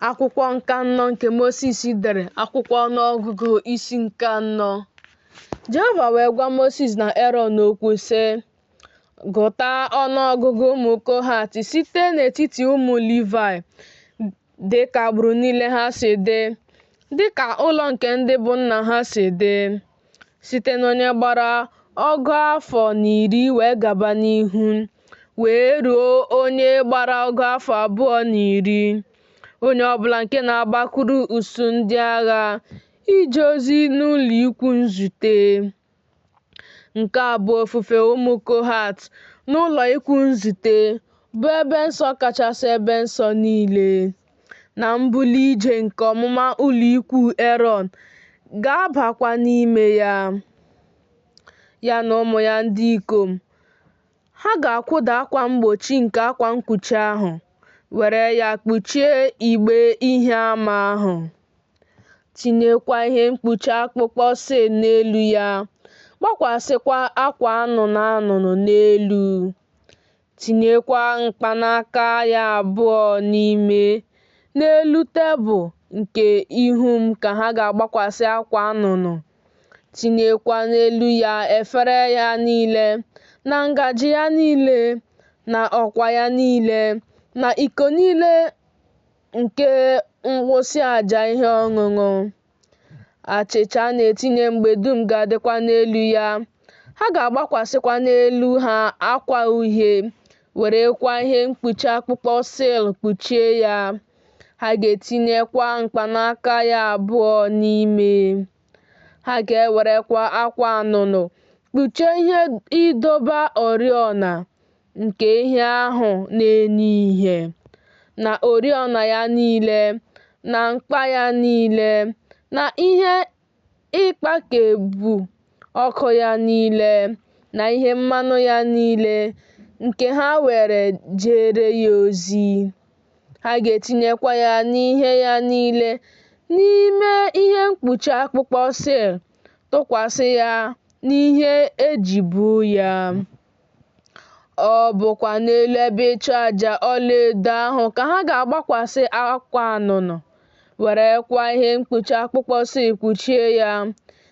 akwụkwọ nke anọ nke Mosis dere akwụkwọ ọnụọgụgụ isi nke anọ Jehova wee gwa Mosis na Erọn okwu sị gụta ọnụọgụgụ ụmụ Kohat site n'etiti ụmụ Livaị dị ka agbụrụ niile ha si dị dị ka ụlọ nke ndị bụ nna ha si dị site n'onye gbara ọgụ afọ na iri wee gaba n'ihu wee ruo onye gbara ọgụ afọ abụọ na iri onye ọbụla nke na-agbakwuru usuu ndị agha ije ozi n'ụlọ ikwu nzute nke a bụ ofufe ụmụ kohat n'ụlọ ikwu nzute bụ ebe nsọ kachasị ebe nsọ niile na mbuli ije nke ọmụma ụlọikwuu Erọn ga-abakwa n'ime ya, ya na ụmụ ya ndị ikom. Ha ga-akwụda akwa mgbochi nke akwa mkpuchi ahụ, were ya kpuchie igbe ihe ama ahụ, tinyekwa ihe mkpuchi akpụkpọ sil n'elu ya, gbakwasịkwa akwa anụnụ anụnụ n'elu. Tinyekwa mkpanaka ya abụọ n'ime, n'elu tebụl nke ihu m ka ha ga-agbakwasị akwa anụnụ. Tinyekwa n'elu ya efere ya niile, na ngaji ya niile, na ọkwa ya niile, na iko niile nke nwụsị aja ihe ọṅụṅụ. Achịcha a na-etinye mgbe dum ga-adịkwa n'elu ya. Ha ga-agbakwasịkwa n'elu ha akwa uhie, werekwa ihe mkpuchi akpụkpọ sil kpuchie ya. Ha ga-etinyekwa mkpanaka ya abụọ n'ime. Ha ga-ewerekwa akwa anụnụ kpuchie ihe ịdọba oriọna, nke ihe ahụ na-enye ihe, na oriọna ya niile, na mkpa ya niile, na ihe ịkpakepụ ọkụ ya niile, na ihe mmanụ ya niile, nke ha were jere ya ozi. Ha ga-etinyekwa ya na ihe ya niile n'ime ihe mkpuchi akpụkpọ sil, tụkwasị ya n'ihe e ji bu ya. Ọ bụkwa n'elu ebe ịchụ aja ọlaedo ahụ ka ha ga-agbakwasị akwa anụnụ, werekwa ihe mkpuchi akpụkpọ sil kpuchie ya,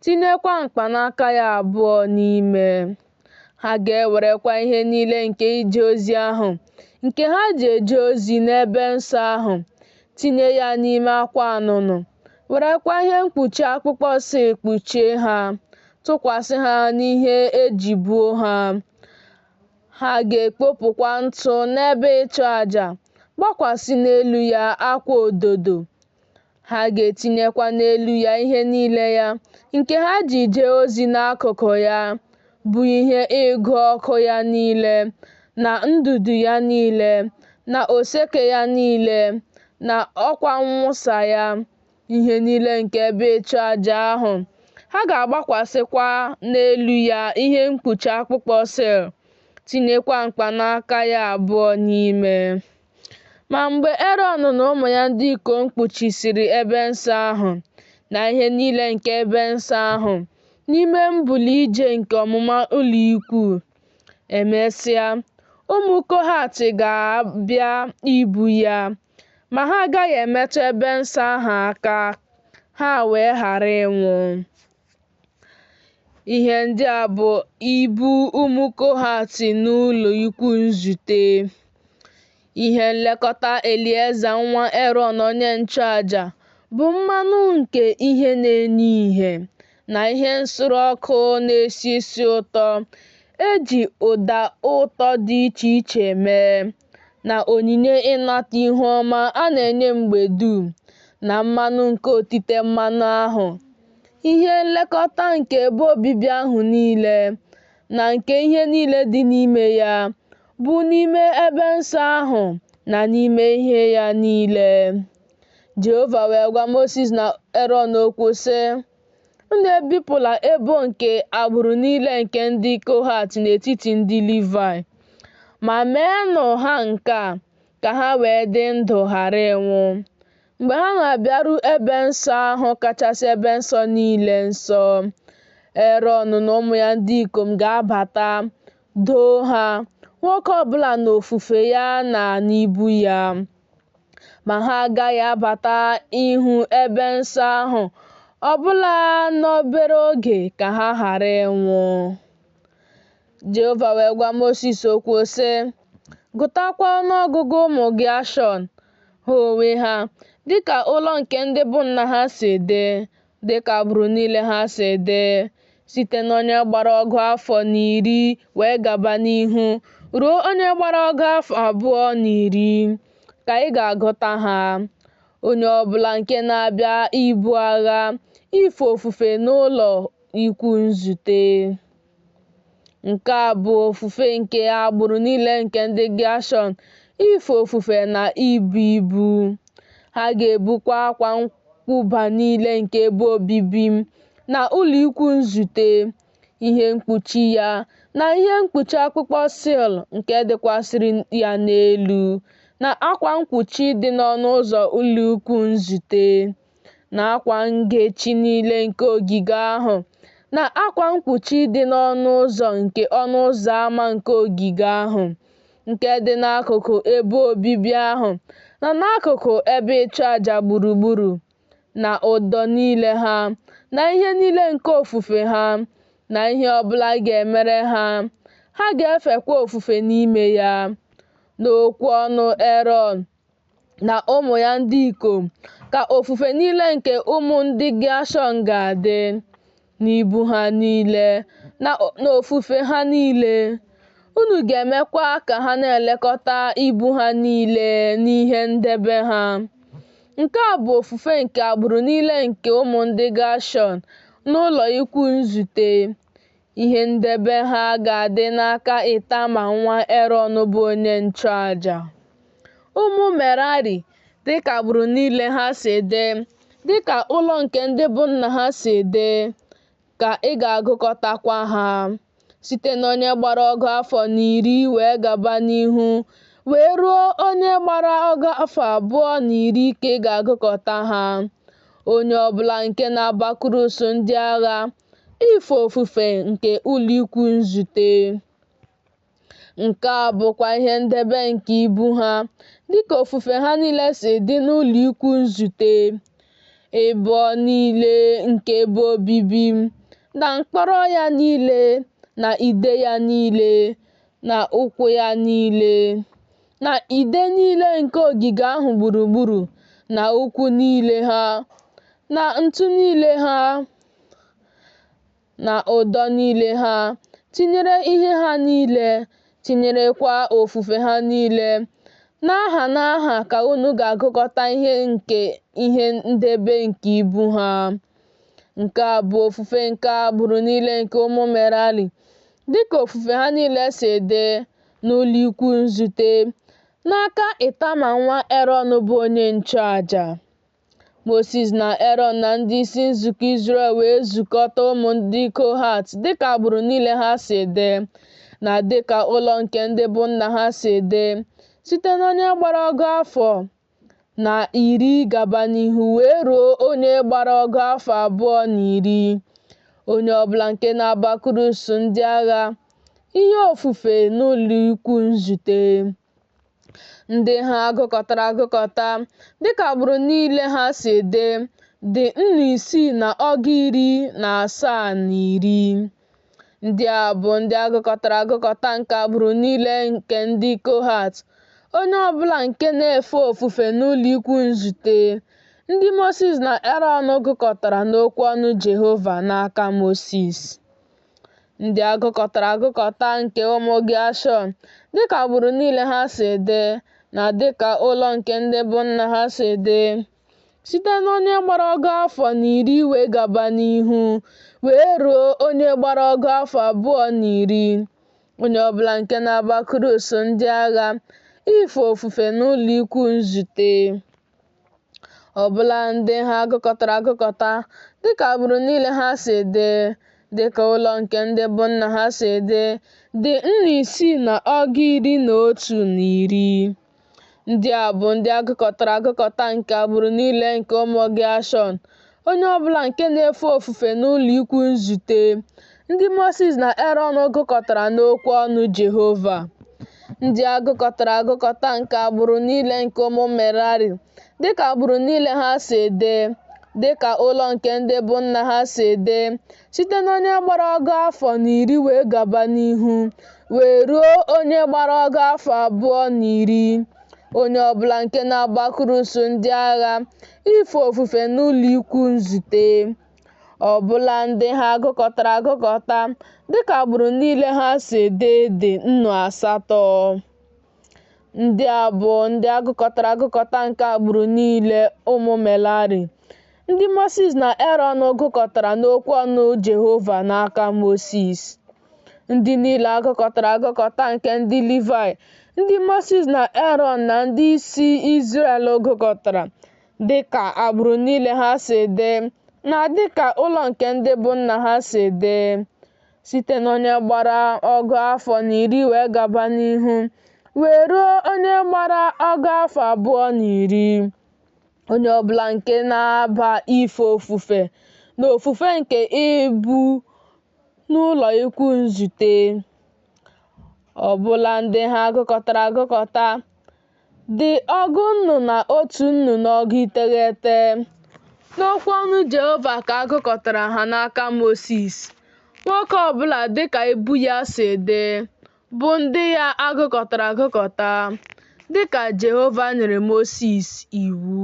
tinyekwa mkpanaka ya abụọ n'ime. Ha ga-ewerekwa ihe niile nke ije ozi ahụ, nke ha ji eje ozi n'ebe nsọ ahụ, tinye ya n'ime akwa anụnụ, werekwa ihe mkpuchi akpụkpọ sil kpuchie ha. tụkwasị ha n'ihe e ji buo ha. Ha ga-ekpopụkwa ntụ n'ebe ịchụ aja, gbakwasị n'elu ya akwa ododo. Ha ga-etinyekwa n'elu ya ihe niile ya nke ha ji jee ozi n'akụkụ ya, bụ ihe ịgụ ọkụ ya niile, na ndụdụ ya niile, na oseke ya niile, na ọkwa mwụsa ya. ihe niile nke ebe ịchụ aja ahụ. Ha ga-agbakwasịkwa n'elu ya ihe mkpuchi akpụkpọ sịl, tinyekwa mkpanaka ya abụọ n'ime. Ma mgbe Erọn na ụmụ ya ndị ikom kpuchisịrị ebe nsọ ahụ na ihe niile nke ebe nsọ ahụ n'ime mbuli ije nke ọmụma ụlọikwuu, emesịa, ụmụ Kohat ga-abịa ibu ya. ma ha agaghị emetụ ebe nsọ ahụ aka, ha wee ghara ịnwụ. Ihe ndị a bụ ibu ụmụ Kohat n'ụlọ ikwu nzute. Ihe nlekọta Elieza nwa Erọn onye nchụaja bụ mmanụ nke ihe na-enye ìhè na ihe nsure ọkụ na-esi isi ụtọ e ji ụda ụtọ dị iche iche mee, na onyinye ịnata ihu ọma a na-enye mgbe dum na mmanụ nke otite mmanụ ahụ, ihe nlekọta nke ebe obibi ahụ niile, na nke ihe niile dị n'ime ya, bụ n'ime ebe nsọ ahụ na n'ime ihe ya niile. Jehova wee gwa Mosis na Erọn okwu, sị, Unu ebipụla ebo nke agbụrụ niile nke ndị Kohat n'etiti ndị Livayị, ma meenụ ha nke a ka ha wee dị ndụ ghara ịnwụ. Mgbe ha na-abịaru ebe nsọ ahụ kachasị ebe nsọ niile nsọ, Erọn na ụmụ ya ndị ikom ga-abata, doo ha, nwoke ọbụla n'ofufe ya na n'ibu ya. ma ha agaghị abata ịhụ ebe nsọ ahụ ọbụla n'obere oge ka ha ghara ịnwụ. Jehova wee gwa Mosis okwu sị, Gụtakwa ọnụọgụgụ ụmụ Geashọn, ha onwe ha, dịka ụlọ nke ndị bụ nna ha si dị, dịka agbụrụ niile ha si dị, site n'onye gbara ọgụ afọ na iri wee gaba n'ihu ruo onye gbara ọgụ afọ abụọ na iri ka ị ga-agụta ha. Onye ọ bụla nke na-abịa ibu agha ife ofufe n'ụlọ ikwu nzute. Nke a bụ ofufe nke agbụrụ niile nke ndị Geshọn, ife ofufe na ibu ibu. Ha ga-ebukwa akwa nkwụba niile nke ebe obibi m, na ụlọ ikwu nzute, ihe mkpuchi ya, na ihe mkpuchi akpụkpọ sil nke dịkwasịrị ya n'elu, na akwa mkpuchi dị n'ọnụ ụzọ ụlọ ikwu nzute. na akwa ngechi niile nke ogige ahụ, na akwa mkpuchi dị n'ọnụ ụzọ nke ọnụ ụzọ ama nke ogige ahụ, nke dị n'akụkụ ebe obibi ahụ, na n'akụkụ ebe ịchụ aja gburugburu, na ụdọ niile ha, na ihe niile nke ofufe ha, na ihe ọ bụla a ga-emere ha, ha ga-efekwa ofufe n'ime ya. N'okwu ọnụ Erọn. na ụmụ ya ndị ikom, ka ofufe niile nke ụmụ ndị Geshọn ga-adị n'ibu ha niile na n'ofufe ha niile. Unu ga-emekwa ka ha na-elekọta ibu ha niile n'ihe ndebe ha. Nke a bụ ofufe nke agbụrụ niile nke ụmụ ndị Geshọn n'ụlọ ikwu nzute. Ihe ndebe ha ga-adị n'aka Itama nwa Erọn bụ onye nchụaja. Ụmụ Merari, dịka agbụrụ niile ha si dị, dịka ụlọ nke ndị bụ nna ha si dị, ka ị ga-agụkọtakwa ha, site n'onye gbara ọgụ afọ na iri wee gaba n'ihu, wee ruo onye gbara ọgụ afọ abụọ na iri ka ị ga-agụkọta ha. Onye ọbụla nke na-abakwuru usuu ndị agha Ife ofufe nke ụlọikwu nzute. Nke a bụkwa ihe ndebe nke ibu ha, dịka ofufe ha niile si dị n'ụlọikwu nzute, ibo niile nke ebe obibi, na mkpọrọ ya niile, na ide ya niile, na ụkwụ ya niile, na ide niile nke ogige ahụ gburugburu, na ụkwụ niile ha, na ntu niile ha, na ụdọ niile ha, tinyere ihe ha niile, tinyerekwa ofufe ha niile. N'aha n'aha ka unu ga-agụkọta ihe nke ihe ndebe nke ibu ha. Nke a bụ ofufe nke agbụrụ niile nke ụmụ Merari, dịka ofufe ha niile si dị n'ụlọikwu nzute, n'aka Itama nwa Erọn bụ onye nchụaja. Mosis na Erọn na ndị isi nzukọ Izrel wee zukọta ụmụ ndị Kohat dịka agbụrụ niile ha si dị, na dịka ụlọ nke ndị bụ nna ha si dị, site n'onye gbara ọgụ afọ na iri gaba n'ihu wee ruo onye gbara ọgụ afọ abụọ na iri, onye ọbụla nke na-abakuru usuu ndị agha ihe ofufe n'ụlọikwuu nzute. ndị ha agụkọtara agụkọta dịka agbụrụ niile ha si dị dị nnu isii na ọgụ iri na asaa na iri ndị a bụ ndị agụkọtara agụkọta nke agbụrụ niile nke ndị kohat onye ọbụla nke na-efe ofufe n'ụlọ ikwu nzute ndị mosis na erọn gụkọtara n'okwu ọnụ jehova n'aka mosis Ndị agụkọtara agụkọta nke ụmụ Geshọn, dịka agbụrụ niile ha si dị, na dịka ụlọ nke ndị bụ nna ha si dị, site n'onye gbara ọgụ afọ na iri wee gaba n'ihu, wee ruo onye gbara ọgụ afọ abụọ na iri, onye ọbụla nke na-abakuru usuu ndị agha ife ofufe n'ụlọikwuu nzute. ọbụla ndị ha agụkọtara agụkọta dịka agbụrụ niile ha si dị dịka ụlọ nke ndị bụ nna ha si dị dị nnu isii na ọgụ iri na otu na iri ndị a bụ ndị agụkọtara agụkọta nke agbụrụ niile nke ụmụ Geshọn Onye ọ bụla nke na-efe ofufe n'ụlọikwuu nzute, ndị Mosis na Erọn gụkọtara n'okwu ọnụ Jehova. Ndị agụkọtara agụkọta nke agbụrụ niile nke ụmụ Merari, dịka agbụrụ niile ha si dị, dịka ụlọ nke ndị bụ nna ha si dị, site n'onye gbara ọgụ afọ na iri wee gaba n'ihu, wee ruo onye gbara ọgụ afọ abụọ na iri. Onye ọ bụla nke na-abakuru usuu ndị agha Ife ofufe n'ụlọikwu nzute ọ bụla ndị ha agụkọtara agụkọta dịka agbụrụ niile ha si dị dị nnu asatọ. Ndị a bụ ndị agụkọtara agụkọta nke agbụrụ niile ụmụ Merari, ndị Mosis na Erọn gụkọtara n'okwu ọnụ Jehova n'aka Mosis. Ndị niile agụkọtara agụkọta nke ndị Livayị, ndị Mosis na Erọn na ndị isi Izrel gụkọtara, dị ka agbụrụ niile ha si dị, na dị ka ụlọ nke ndị bụ nna ha si dị, site n'onye gbara ọgụ afọ na iri wee gaba n'ihu, wee ruo onye gbara ọgụ afọ abụọ na iri. Onye ọbụla nke na-aba ife ofufe na ofufe nke ibu n'ụlọikwuu nzute ọ bụla ndị ha a gụkọtara agụkọta dị ọgụ nnụ na otu nnụ na ọgụ iteghete. N'okwu ọnụ Jehova ka a gụkọtara ha n'aka Mosis, nwoke ọ bụla dị ka ibu ya si dị, bụ ndị ya a gụkọtara agụkọta, dị ka Jehova nyere Mosis iwu.